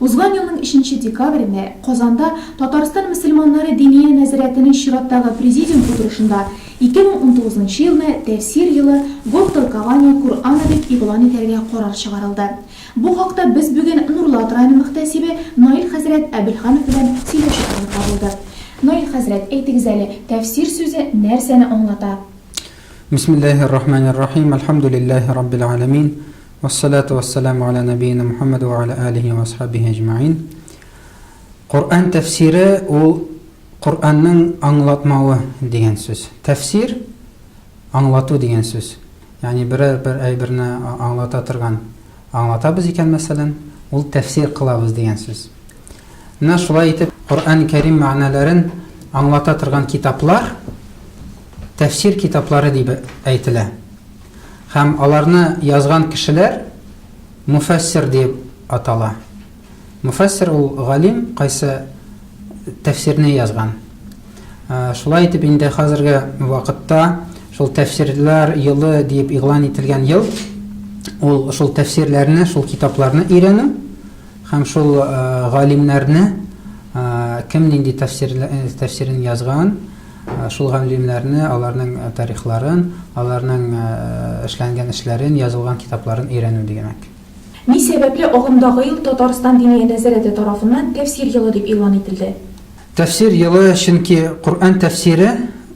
Узган елның өченче декабрендә Казанда Татарстан мөселманнары Диния нәзарәтенең чираттагы Президиум утырышында 2019 нчы елны Тәфсир елы, Год толкования Кур'ана дип игълан итәргә карар чыгарылды. Бу хакта без бүген Нурлат районы мөхтәсибе Наил хәзрәт Әбелханов белән сөйләшү алып барылды. Наил хәзрәт, әйтегез әле, тәфсир сүзе нәрсәне аңлата? Бисмиллаһи ррахмани ррахим, әлхәмдүлиллаһи раббил галәмин. Уассалату уассаламу аля нәбиина Мухаммад уа аля алихи уа асхабихи әҗмәгыйн. Коръән тәфсире ул Коръәннең аңлатмавы дигән сүз. Тәфсир, аңлату дигән сүз. Ягъни берәр бер әйберне аңлата торган аңлатабыз икән, мәсәлән, ул тәфсир кылабыз дигән сүз. Менә шулай итеп Коръән Кәрим мәгънәләрен аңлата торган китаплар тәфсир китаплары дип әйтелә. Һәм аларны язган кешеләр муфәссир диеп атала. Муфәссир ул галим, кайсы тәфсирне язган. Шулай итеп инде хәзерге вакытта шул тәфсирләр елы диеп игълан ителгән ел ул шул тәфсирләрне, шул китапларны өйрәнү һәм шул галимнәрне кем нинди тәфсирен язган, Шул галимнәрне, аларның тарихларын, аларның эшләнгән эшләрен, язылган китапларын өйрәнү дигәнәк. Ни сәбәпле агымдагы ел Татарстан Диния нәзарәте тарафыннан Тәфсир елы дип игълан ителде? Тәфсир елы, чөнки Коръән тәфсире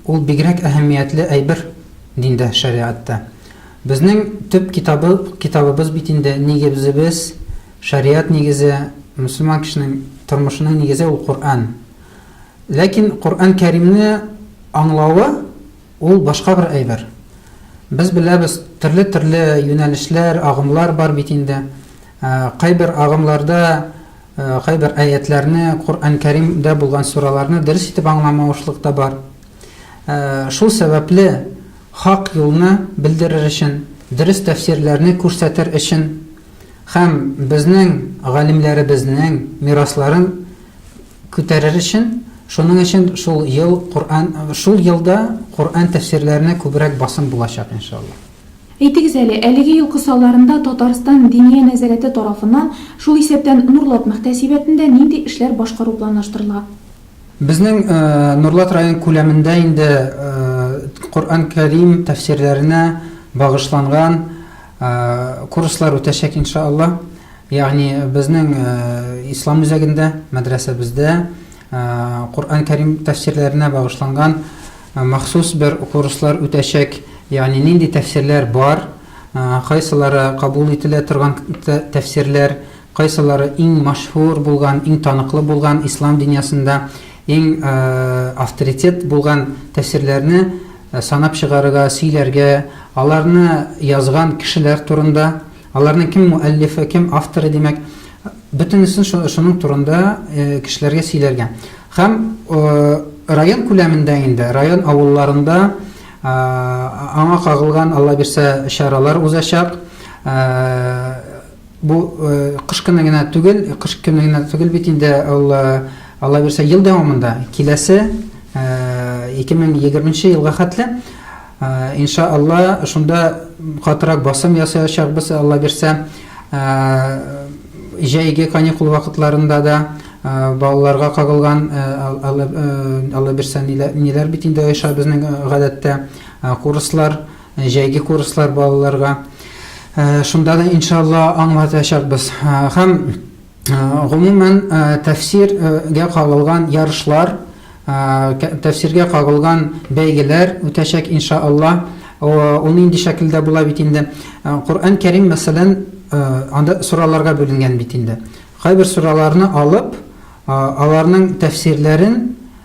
ул бигрәк әһәмиятле әйбер диндә, шәригатьтә. Безнең төп китабы, китабыбыз бит инде, нигебзебез, шәригать нигезе, мөселман кешенең тормышының нигезе ул Коръән. Ләкин Коръән Кәримне аңлавы, ул башка бер әйбер. Без беләбез, төрле-төрле юнәлешләр, агымлар бар бит инде. Кайбер агымларда кайбер әятләрне, Коръән Кәримдә булган сураларны дөрес итеп аңламавышлык та бар. Шул сәбәпле, хак юлны белдерер өчен, дөрес тәфсирләрне күрсәтер өчен һәм безнең галимнәребезнең мирасларын Күтәрер өчен, шуның өчен шул ел Коръән, шул елда Коръән тәфсирләренә күбрәк басым булачак, иншалла. Әйтегез әле, әлеге ел кысаларында Татарстан Диния нәзарәте тарафыннан, шул исәптән Нурлат мөхтәсибәтендә нинди эшләр башкару планлаштырыла? Безнең Нурлат район күләмендә инде Коръән Кәрим тәфсирләренә багышланган курслар үтәчәк, иншалла. Ягъни безнең Ислам үзәгендә, мәдрәсәбездә Коръән Кәрим тәфсирләренә багышланган махсус бер курслар үтәчәк. Ягъни нинди тәфсирләр бар, кайсылары кабул ителә торган тәфсирләр, кайсылары иң мәшһүр булган, иң таныклы булган, Ислам дөньясында иң авторитет булган тәфсирләрне санап чыгарырга, сөйләргә, аларны язган кешеләр турында, Аларның кем муәллифе, кем авторы, димәк, бөтенесен шуның турында кешеләргә сөйләргә. Һәм район күләмендә инде, район авылларында аңа кагылган, Алла бирсә, чаралар узачак. Бу кыш көне генә түгел, кыш көне генә түгел бит инде ул, Алла бирсә, ел дәвамында, киләсе 2020 елга хәтле. Инша Алла, шунда катырак басым ясаячакбыз, Алла бирсә. Җәйге каникул вакытларында да балаларга кагылган Алла бирсә ниләр бит инде оеша безнең гадәттә курслар, җәйге курслар балаларга. Шунда да иншалла аңлатачакбыз. Һәм Гомумән, тәфсир гә кагылган ярышлар, тәфсиргә кагылган бәйгеләр үтәчәк, инша Аллаһ. Ул нинди шәкелдә була бит инде. Коръән Кәрим, мәсәлән, анда сураларга бүленгән бит инде. Кайбер сураларны алып, аларның тәфсирләрен,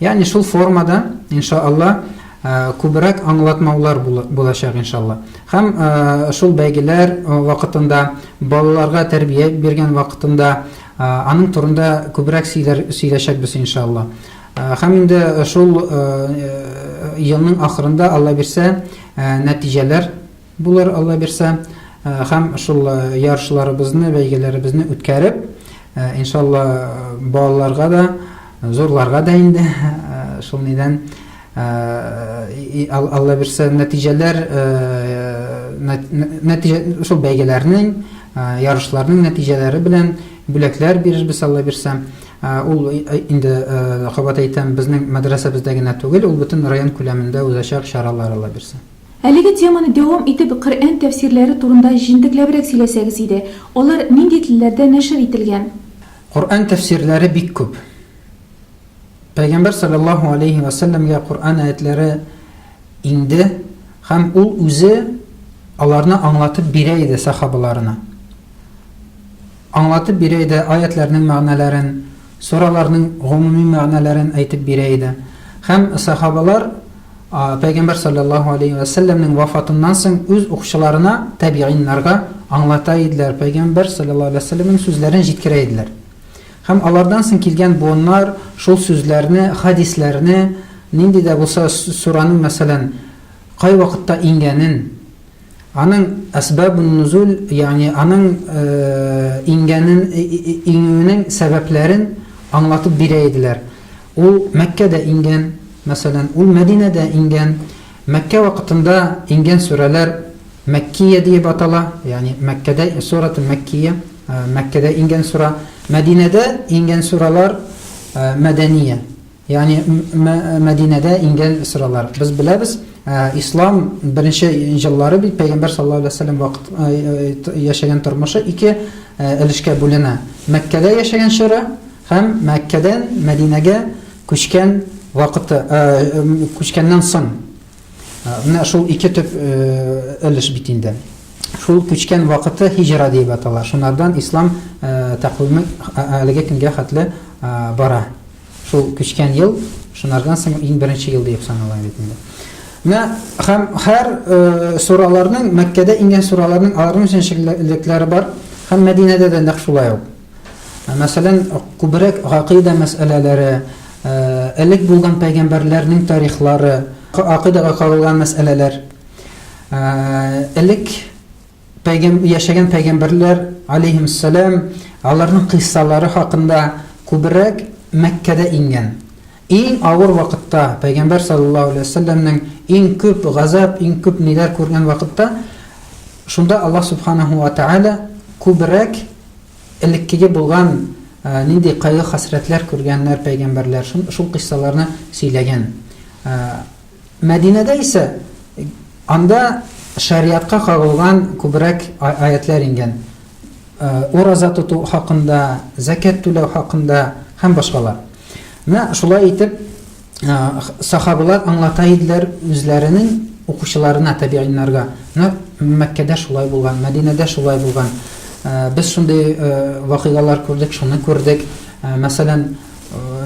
Ягъни шул формада, иншаалла, күбрәк аңлатмаулар булачак, иншаалла. Һәм шул бәйгеләр вакытында, балаларга тәрбия биргән вакытында аның турында күбрәк сөйләшәкбез, иншаалла. Һәм инде шул елның ахырында, Алла бирсә, нәтиҗәләр Булыр, Алла бирсә, һәм шул ярышларыбызны, бәйгеләребезне үткәреп, иншалла, балаларга да, зурларга да инде, шул нидән, Алла бирсә, нәтиҗәләр, нәтиҗә, шул бәйгеләрнең, ярышларның нәтиҗәләре белән бүләкләр бирербез, Алла бирсә. Ул инде, кабат әйтәм, безнең мәдрәсәбездә генә түгел, ул бөтен район күләмендә узачак чаралар, Алла бирсә. Әлеге теманы дәвам итеп Коръән тәфсирләре турында җентекләбрәк сөйләсәгез иде. Алар нинди телләрдә нәшер ителгән? Коръән тәфсирләре бик күп. Пәйгамбәр салләллаһу аләйһи вә сәлләмгә Коръән аятьләре иңде һәм ул үзе аларны аңлатып бирә иде сахабаларына. Аңлатып бирә иде, аятьләрнең мәгънәләрен, сураларның гомуми мәгънәләрен әйтеп бирә иде. Һәм сахабалар Пәйгамбәр саллаллаһу алейһи вә сәлләмнең вафатыннан соң үз укучыларына, тәбигыйннарга аңлата иделәр, Пәйгамбәр саллаллаһу алейһи вә сәлләмнең сүзләрен җиткерә иделәр. Һәм алардан соң килгән буыннар шул сүзләрне, хәдисләрне, нинди дә булса сураның, мәсәлән, кайвакытта иңгәнен, Аның әсбабун-нозуль, ягъни аның иңгәнен, иңүенең сәбәпләрен аңлатып бирә иделәр. Ул Мәккәдә иңгән, мәсәлән, ул Мәдинәдә иңгән. Мәккә вакытында иңгән сүрәләр Мәккия диеп атала, ягъни Мәккәдә, Сурәтүл Мәккия, Мәккәдә иңгән сүрә. Мәдинәдә иңгән сүрәләр Мәдәния. Ягъни Мәдинәдә иңгән сөрәләр. Без беләбез, ислам беренче еллары бит пәйгамбәр саллаллаһу алейһи ва сәлләм вакыт яшәгән тормышы ике өлешкә бүленә. Мәккәдә яшәгән чоры һәм Мәккәдән Мәдинәгә күчкән вакыты, күчкәннән соң. Менә шул ике төп өлеш бит инде. Шул күчкән вакыты һиҗра дип атала. Шунардан ислам тәкъвиме әлеге көнгә хәтле бара. Шул күчкән ел, шунардан соң иң беренче ел диеп санала бит инде. Менә һәм һәр э, сураларның Мәккәдә ингән сураларның аларның җеншеклекләре бар һәм Мәдинәдә дә нәкъ шулай ук. Ә, мәсәлән, күбрәк гакыйда мәсьәләләре, э, элек булган пәйгамбәрләрнең тарихлары, акыйдага кагылган мәсьәләләр. Э, элек Пәйгәм, яшәгән пәйгамбәрләр, алейһимуссәлам, аларның кыйссалары хакында күбрәк Мәккәдә иңгән. Иң авыр вакытта, пәйгамбәр саллаллаһу алейһи ва сәлләмнең иң күп газап, иң күп ниләр күргән вакытта, шунда Аллаһ субханаһу ва тәгалә күбрәк элеккеге булган нинди кайгы-хәсрәтләр күргәннәр пәйгамбәрләр, шул кыйссаларны сөйләгән. Мәдинәдә исә анда шәригатькә кагылган күбрәк аятьләр иңгән. Ураза тоту хакында, зәкят түләү хакында һәм башкалар. Менә шулай итеп сахабалар аңлата иделәр үзләренең укучыларына, табигыйннарга. Менә Мәккәдә шулай булган, Мәдинәдә шулай булган. Без шундый вакыйгалар күрдек, шуны күрдек. Мәсәлән,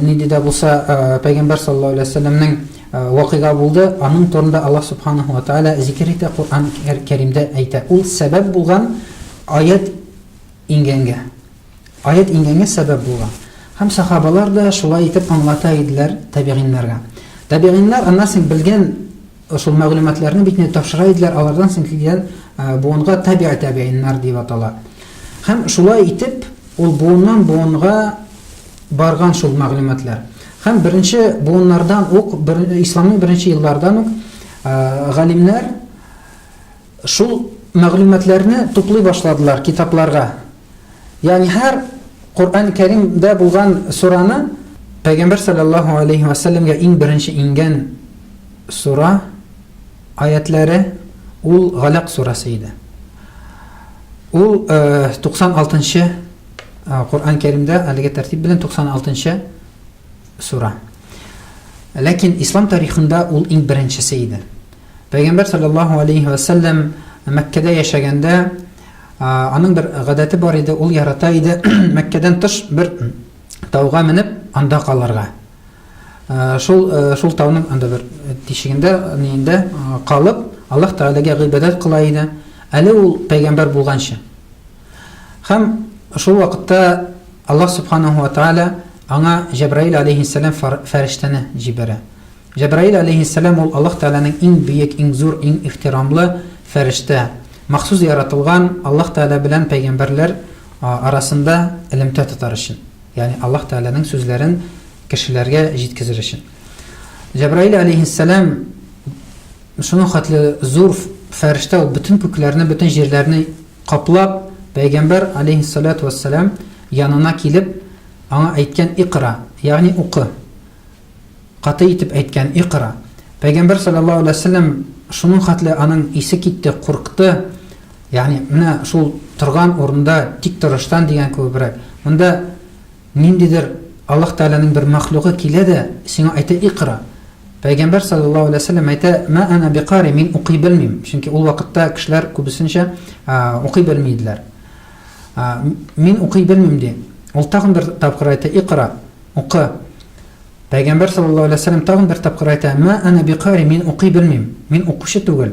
Нинди дә булса пәйгамбәр саллаллаһу алейһи ва сәлләмнең вакыйга булды, аның турында Аллаһ субханаһу ва тааля зикер итә, Коръән Кәримдә әйтә. Ул сәбәп булган аять иңгәнгә. Аять иңгәнгә сәбәп булган. Һәм сахабалар да шулай итеп аңлата иделәр табигиннарга. Табигиннар аннан соң белгән Шул мәгълүматларны бит инде тапшыра иделәр, алардан соң килгән буынга табигъ табигъиннар дип атала. Һәм шулай итеп, ул буыннан буынга барган шул мәгълүматлар. Һәм беренче буыннардан ук, бер, исламның беренче еллардан ук галимнәр шул мәгълүматларны туплый башладылар китапларга. Ягъни һәр Коръән Кәримдә булган сураны Пәйгамбәр саллаллаһу алейһи ва сәлләмгә иң беренче иңгән сура аятләре ул Галәк сурасы иде. Ул 96 э, нчы э, Коръән Кәримдә әлеге тәртип белән 96 нчы Сура. Ләкин ислам тарихында ул иң беренчесе иде. Пәйгамбәр саллаллаһу алейхи ва саллям Мәккәдә яшәгәндә аның бер гадәте бар иде, ул ярата иде Мәккәдән тыш бер тауга менеп, анда калырга. Шул шул тауның анда бер тишегендә, нинде калып, Аллаһ Тәгаләгә гыйбадәт кыла иде. Әле ул пәйгамбәр булганчы. Һәм шул вакытта Аллаһ Субханаһу ва Тааля аңа Җәбраил алейһиссәлам фәрештәне җибәрә. Җәбраил алейһиссәлам ул Аллаһ Тәгаләнең иң бөек, иң зур, иң ихтирамлы фәрештә, махсус яратылган Аллаһ Тәгалә белән пәйгамбәрләр арасында элемтә тотар өчен, ягъни Аллаһ Тәгаләнең сүзләрен кешеләргә җиткезер өчен. Җәбраил алейһиссәлам шуның хәтле зур фәрештә, ул бөтен күкләрне, бөтен җирләрне Каплап, пәйгамбәр, аләйһиссалату вәссәлам, янына килеп, аңа әйткән, Икъра, ягъни укы. Каты итеп әйткән, Икъра. Пәйгамбәр, салләллаһу аләйһи вә сәлләм, шуның хәтле аның исе китте, курыкты, ягъни менә шул торган урында тик торыштан дигән кебебрәк, монда, Ниндидер Аллаһ Тәгаләнең бер мәхлугы килә дә, сиңа әйтә, Икъра! Пәйгамбәр салләллаһу галәйһи ва сәлләм әйтә, Мә әнә бикари, мин укый белмим. Чөнки ул вакытта кешеләр күбесенчә укый белми иделәр. Мин укый белмим, ди. Ул тагын бер тапкыр әйтә, Икъра! Укы! Пәйгамбәр салләллаһу галәйһи ва сәлләм тагын бер тапкыр әйтә, Мә әнә бикари, мин укый белмим. Мин укучы түгел.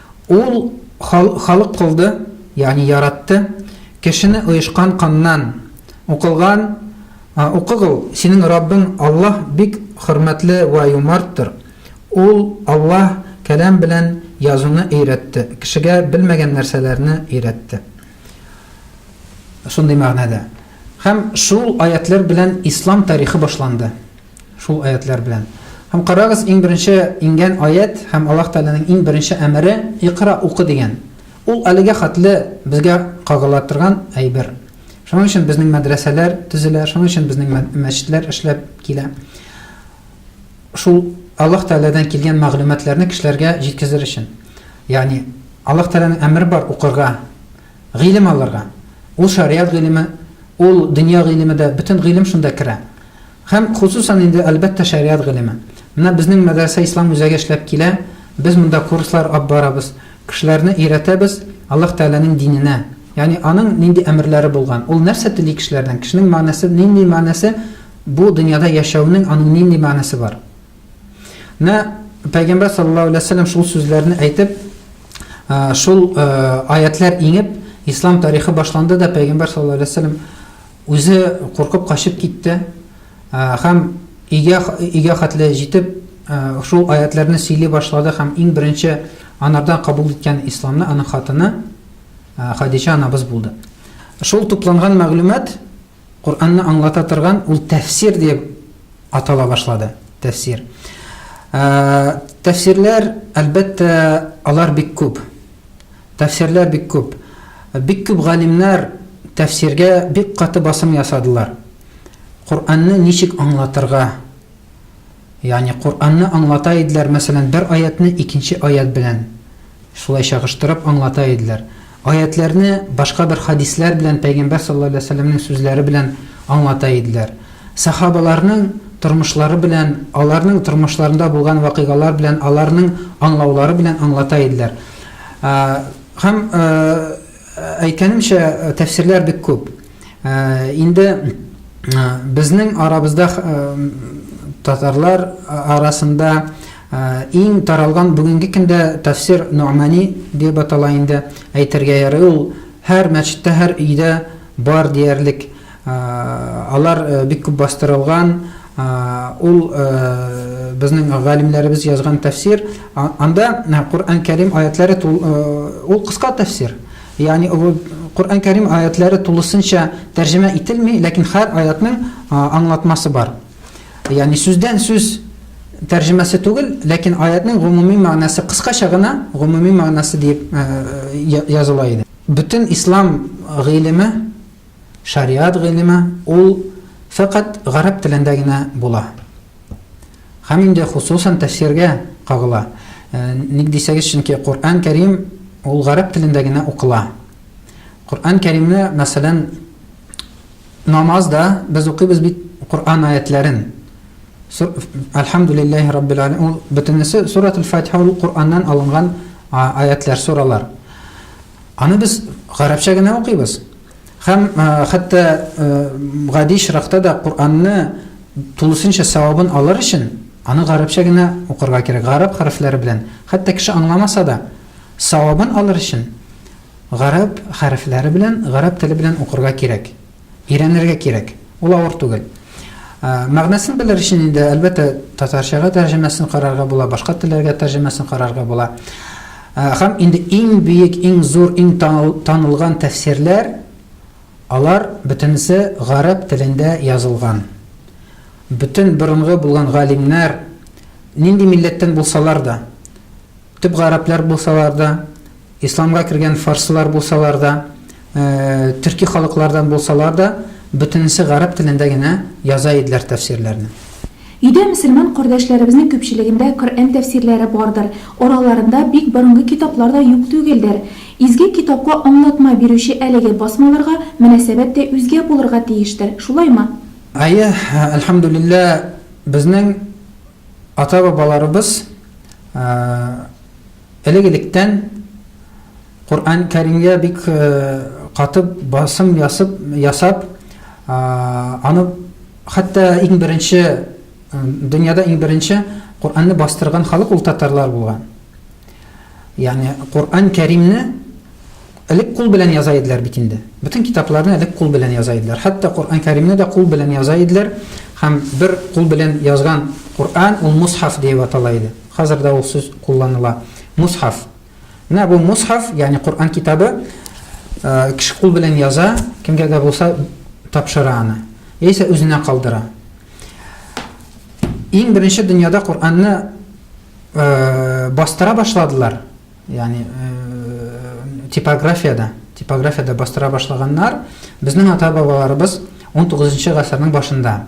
Ул халык кылды, ягъни яратты, кешене оешкан каннан, укылган Укыгыл, синең Раббың Аллаһ бик хөрмәтле вә юмарттыр. Ул, Аллаһ, каләм белән язуны өйрәтте, кешегә белмәгән нәрсәләрне өйрәтте. Шундый мәгънәдә. Һәм шул аятьләр белән ислам тарихы башланды. Шул аятьләр белән. Һәм карагыз, иң беренче иңгән аять һәм Аллаһ Тәгаләнең иң беренче әмере, Икъра, укы, дигән. Ул әлегә хәтле безгә кагыла торган әйбер. Шуның өчен безнең мәдрәсәләр төзелә, шуның өчен безнең мәчетләр эшләп килә. Шул Аллаһ Тәгаләдән килгән мәгълүматларны кешеләргә җиткезер өчен. Ягъни Аллаһ Тәгаләнең әмере бар укырга, гыйлем алырга. Ул шариат гыйлеме, ул дөнья гыйлеме дә, бөтен гыйлем шунда керә. Һәм, хосусан инде, әлбәттә, шәригать гыйлеме. Менә безнең мәдрәсә Ислам үзәге эшләп килә, без монда курслар ап барабыз, кешеләрне өйрәтәбез Аллаһ Тәгаләнең диненә, ягъни Аның нинди әмерләре булган, Ул нәрсә тели кешеләрдән, кешенең мәгънәсе, нинди мәгънәсе, бу дөньяда яшәүнең аның нинди мәгънәсе бар. Менә Пәйгамбәр саллаллаһу алейһи ва сәлләм шул сүзләрне әйтеп, шул аятьләр иңеп, Ислам тарихы башланды да, Пәйгамбәр саллаллаһу алейһи ва сәлләм Үзе куркып качып китте һәм өйгә өйгә хәтле җитеп, шул аятьләрне сөйли башлады һәм иң беренче анардан кабул иткән исламны аның хатыны Хадича анабыз булды. Шул тупланган мәгълүмат Коръәнне аңлата торган ул тәфсир диеп атала башлады. Тәфсир. Тәфсирләр, әлбәттә, алар бик күп. Тәфсирләр бик күп. Бик күп галимнәр тәфсиргә бик каты басым ясадылар. Коръәнне ничек аңлатырга? Ягъни Коръәнне аңлата иделәр, мәсәлән, бер аятьне икенче аять белән шулай чагыштырып аңлата иделәр. Аятьләрне башка бер хәдисләр белән, пәйгамбәр саллаллаһу галәйһи ва сәлләмнең сүзләре белән аңлата иделәр. Сахабаларның тормышлары белән, аларның тормышларында булган вакыйгалар белән, аларның аңлаулары белән аңлата иделәр. Һәм, әйткәнемчә, тәфсирләр бик күп. Инде безнең арабызда татарлар арасында иң таралган бүгенге көндә тәфсир Ну'мани дип атала инде, әйтергә ярый. Ул һәр мәчеттә, һәр өйдә бар диярлек. Алар бик күп бастырылган, ул безнең галимнәребез язган тәфсир, анда Коръән Кәрим аятләре ул кыска тәфсир. Ягъни Коръән Кәрим аятләре тулысынча тәрҗемә ителми, ләкин һәр аятның аңлатмасы бар. Ягъни сүздән сүз тәрҗемәсе түгел, ләкин аятның гомуми мәгънәсе кыскача гына гомуми мәгънәсе дип языла иде. Бөтен ислам гыйлеме Шариат гыйлеме ул фәкать гарәп телендә генә була. Һәм инде хосусан тәфсиргә кагыла. Ник дисәгез, чөнки Коръән Кәрим ул гарәп телендә генә укыла. Коръән Кәримне, мәсәлән, намаз да без укыйбыз бит Коръән аятләрен. Әлхәмдүлилләһи раббил аләмин. Ул бөтенесе Суратул Фатиха ул Коръәннән алынган аятлар, суралар. Аны без гарәпчә генә укыйбыз. Һәм хәтта гади чиракта да Куранны тулысынча савабын алыр өчен аны гарәпчә генә укырга кирәк, гарәп хәрефләре белән. Хәтта кеше аңламаса да, савабын алыр өчен гарәп хәрефләре белән, гарәп теле белән укырга кирәк. Өйрәнергә кирәк. Ул авыр түгел. Мәгънәсен белер өчен инде, әлбәттә, татарчага тәрҗемәсен карарга була, башка телләргә тәрҗемәсен карарга була. Һәм инде иң бөек, иң зур, иң танылган тәфсирләр, алар бөтенесе гарәп телендә язылган. Бөтен борынгы булган галимнәр, нинди милләттән булсалар да, Төп гарәпләр булсалар да, исламга кергән фарсылар булсалар да, төрки халыклардан булсалар да, бөтенесе гарәп телендә генә яза иделәр тәфсирләрне. Өйдә мөселман кардәшләребезнең күпчелегендә Коръән тәфсирләре бардыр, араларында бик борынгы китаплар да юк түгелдер. Изге Китапка аңлатма бирүче әлеге басмаларга мөнәсәбәт тә үзгә булырга тиештер, шулаймы? Әйе, әлхәмдүлилләһ, безнең. Ата-бабаларыбыз элек-электән Коръән Кәримгә бик катып басым ясып ясап, аны хәтта иң беренче дөньяда иң беренче Коръәнне бастырган халык ул татарлар булган. Ягъни Коръән Кәримне Элек кул белән яза иделәр бит инде. Бөтен китапларны элек кул белән яза иделәр. Хәтта Коръән Кәримне дә кул белән яза иделәр һәм бер кул белән язган Коръән ул мусхаф диеп атала иде. Хәзер дә ул сүз кулланыла, мусхаф. Менә бу мусхаф, ягъни Коръән китабы, кеше кул белән яза, кемгә дә булса тапшыра аны, яисә үзенә калдыра. Иң беренче дөньяда Коръәнне бастыра башладылар, Ягъни типографиядә, типографиядә бастыра башлаганнар. Безнең ата-бабаларыбыз 19 гасырның башында.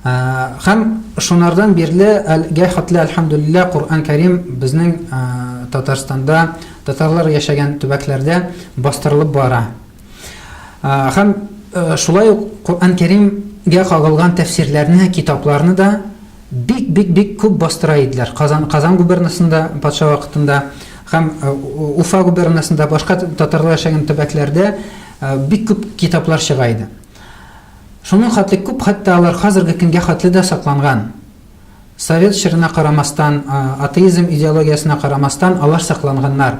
Хәм шунардан бирле әлгә хатлы әлхәмдулилла Коръән Кәрим безнең Татарстанда, татарлар яшәгән төбәкләрдә бастырылып бара. Хәм шулай ук Коръән Кәримгә кагылган тәфсирләрне, китапларны да Бик, бик, бик күп бастыра иделәр. Казан, Казан губернасында патша вакытында һәм Уфа губернасында, башка татарлар яшәгән төбәкләрдә бик күп китаплар чыга иде. Шуның хәтле күп, хәтта алар хәзерге көнгә хәтле дә сакланган. Совет чорына карамастан, атеизм идеологиясенә карамастан, алар сакланганнар.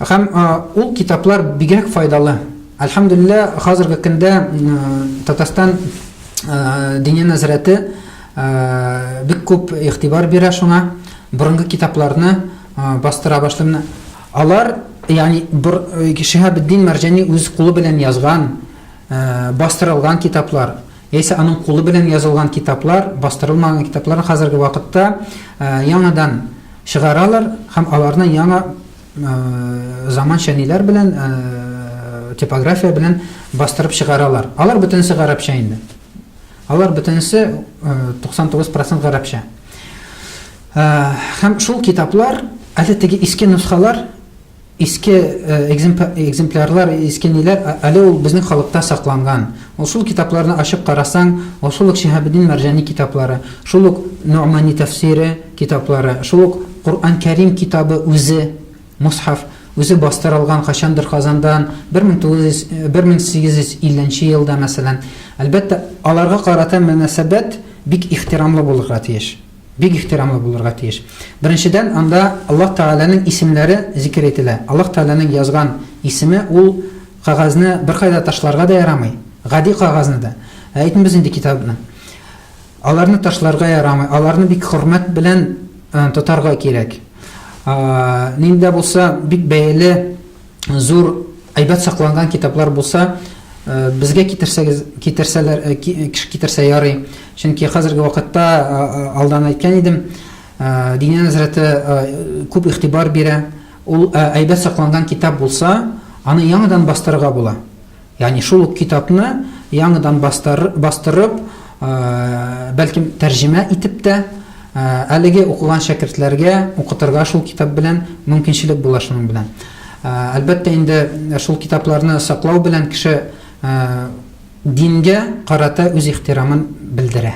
Һәм ул китаплар бигрәк файдалы. Әлхәмдулилла, хәзерге көндә Татарстан диния нәзарәте бик күп игътибар бирә шуңа. Борынгы китапларны бастыра башлыйм. Алар, ягъни бер Шиһабетдин Мәрҗани үз кулы белән язган, бастырылган китаплар. Яисә аның кулы белән язылган китаплар, бастырылмаган китаплар хәзерге вакытта яңадан чыгаралар һәм аларны яңа заманча ниләр белән, типография белән бастырып чыгаралар. Алар бөтенесе гарәпчә инде. Алар бөтенесе 99% гарәпчә. Һәм шул китаплар, әле теге иске носхалар Иске экземплярлар, иске ниләр, әле ул безнең халыкта сакланган. Ул шул китапларны ачып карасаң, ул шул ук Шиһабетдин Мәрҗани китаплары, шул ук Ногъмани тәфсире китаплары, шул ук Коръән Кәрим китабы үзе, Мосхаф, үзе бастырылган кайчандыр Казандан, бер мең тугыз йөз, бер мең сигез йөз илле нче елда, мәсәлән. Әлбәттә, аларга карата мөнәсәбәт бик ихтирамлы булырга тиеш. Бик ихтирамлы булырга тиеш. Беренчедән, анда Аллаһ Тәгаләнең исемнәре зикер ителә. Аллаһ Тәгаләнең язган исеме, ул кагазьне беркайда ташларга да ярамый, гади кагазьне дә, ә әйтмибез инде китапны. Аларны ташларга ярамый, аларны бик хөрмәт белән тотарга кирәк. Нинди дә булса бик бәяле зур әйбәт сакланган китаплар булса, э, безгә китерсәгез, китерсәләр, э, э, китерсә ярый. Чөнки хәзерге вакытта алдан әйткән идем, Динә нәзрәте күп игътибар бирә. Ул әйбәт сакланган китап булса, аны яңадан бастырырга була. Ягъни шул ук китапны яңыдан бастырып, бәлкем, тәрҗемә итеп тә, әлеге укыган шәкертләргә укытырга шул китап белән мөмкинчелек була шуның белән. Әлбәттә инде, шул китапларны саклау белән кеше дингә карата үз ихтирамын белдерә.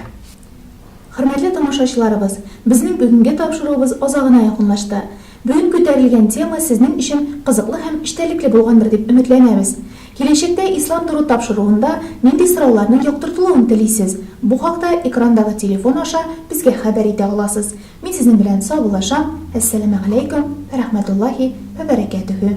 Хөрмәтле тамашачыларыбыз, безнең бүгенге тапшыруыбыз азагына якынлашты. Бүген күтәрелгән тема сезнең өчен кызыклы һәм эчтәлекле булгандыр дип өметләнәбез. Киләчәктә Ислам Дору тапшыруында нинди сорауларның яктыртылуын телисез? Бу хакта экрандагы телефон аша безгә хәбәр итә аласыз. Мин сезнең белән саубуллашам, Әссәләмәгаләйкүм вә рәхмәтуллаһи вә бәрәкәтүһү.